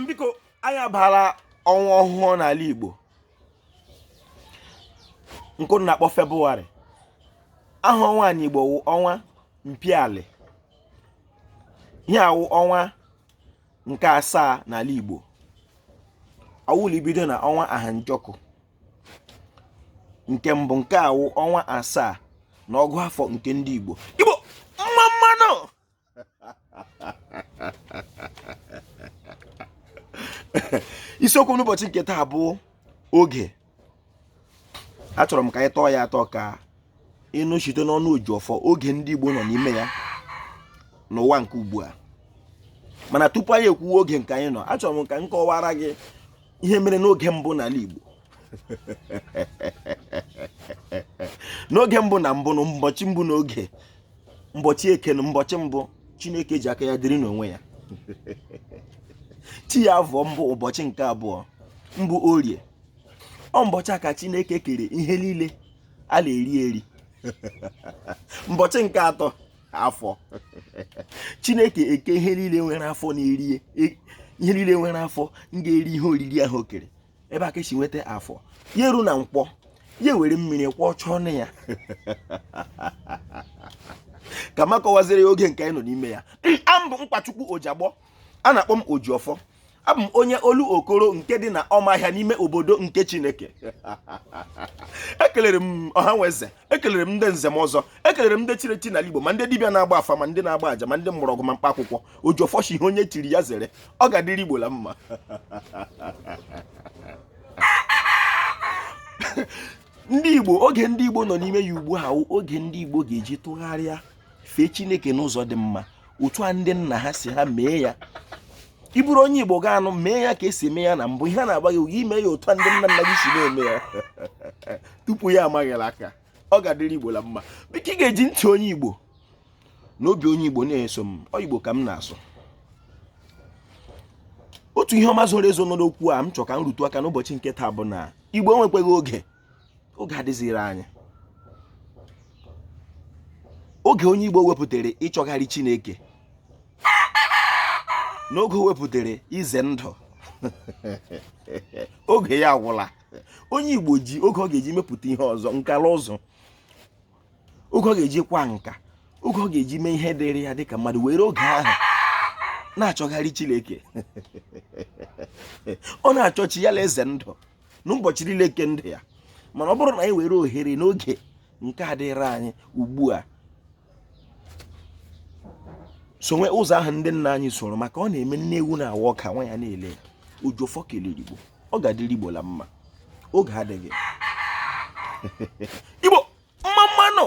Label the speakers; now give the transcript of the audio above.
Speaker 1: biko anyị abaala ọnwa ọhụụ n'ala Igbo nke a na-akpọ Febụwarị aha ọnwa a n'Igbo wụ ọnwa mpiali ihe a wụ ọnwa nke asaa n'ala Igbo ọ wụ la ibido na ọnwa ahanjọkụ nke mbụ nke a wụ ọnwa asaa na ọgụ afọ nke ndị Igbo Igbo mma mma nụ isiokwu n'ụbọchị nke taa bụ oge achọrọ m ka anyị tọọ ya atọ ka ị nụ site n'ọnụ Ojiọfọ oge ndị Igbo nọ n'ime ya n'ụwa nke ugbu a mana tupu anyị ekwuwe oge nke anyị nọ achọrọ m ka m kọwara gị ihe mere n'oge mbụ n'ala Igbo n'oge mbụ na mbụ na mbọchị mbụ n'oge mbọchị eke na mbọchị mbụ chineke ji aka ya dịrị n'onwe ya chi ya afọ mbụ ụbọchị nke abụọ bụ orie ọ mbọchị a ka chineke kere ihe niile a na-eri eri mbọchị nke atọ afọ chineke ekee ihe niile nwere afọ na-erie ihe niile nwere afọ ga-eri ihe oriri ahụ o kere ebe a ka e si nweta afọ ya eru na nkwọ ya were mmiri kwọchaa ọnụ ya ka m kọwaziri ya oge nke anyị nọ n'ime ya abụ m Nkwachukwu Ojiagbọ a na-akpọ m ojiọfọ abụ m onye Olokoro nke dị na Ọmaahịa n'ime obodo nke chineke ekelere m ọha na eze ekelere m ndị nze na ọzọ ekelere m ndị chiri echi n'ala Igbo ma ndị dibịa na-agba afa ma ndị na-agba aja ma ndị mgbọrọgwụ ma mkpa akwụkwọ ojiọfọ sị ihe onye chiri ya zere ọ ga-adịrị Igbo la mma ndị Igbo oge ndị Igbo nọ n'ime ya ugbu a wụ oge ndị Igbo ga-eji tụgharịa fee chineke n'ụzọ dị mma otu a ndị nna ha si ha mee ya ị bụrụ onye igbo gaa nụ mee ya ka e si eme ya na mbụ ihe na-agba gị oge ime ya otu a ndị nna nna gị si na-eme ya tupu ya ama gị la aka ọ ga-adịrị igbo la mma biko ị ga-eji ntị onye igbo na obi onye igbo na-eso m ọ igbo ka m na-asụ otu ihe ọma zoro ezo nọ n'okwu a m chọ ka m rutu aka n'ụbọchị nke taa bụ na igbo enwekweghị oge oge adịziri anyị oge onye Igbo wepụtara ịchọgharị Chineke na oge o wepụtara ize ndụ oge ya agwụla onye Igbo ji oge ọ ga-eji mepụta ihe ọzọ nka la ụzụ oge ọ ga-eji kwa nka oge ọ ga-eji mee ihe dịrị ya dịka mmadụ were oge ahụ na-achọgharị Chineke ọ na-achọ chi ya la ize ndụ n'ụbọchị niile nke ndụ ya mana ọ bụrụ na anyị were ohere n'oge nke dịrị anyị ugbu a sowe ụzọ ahụ ndị nna anyị soro maka ọ na-eme nne ewu na-awa ọka nwa ya na-ele ya ojiọfọ kelere igbo ọ ga-adịrị igbo la mma oge adịghị igbo mma mma nụ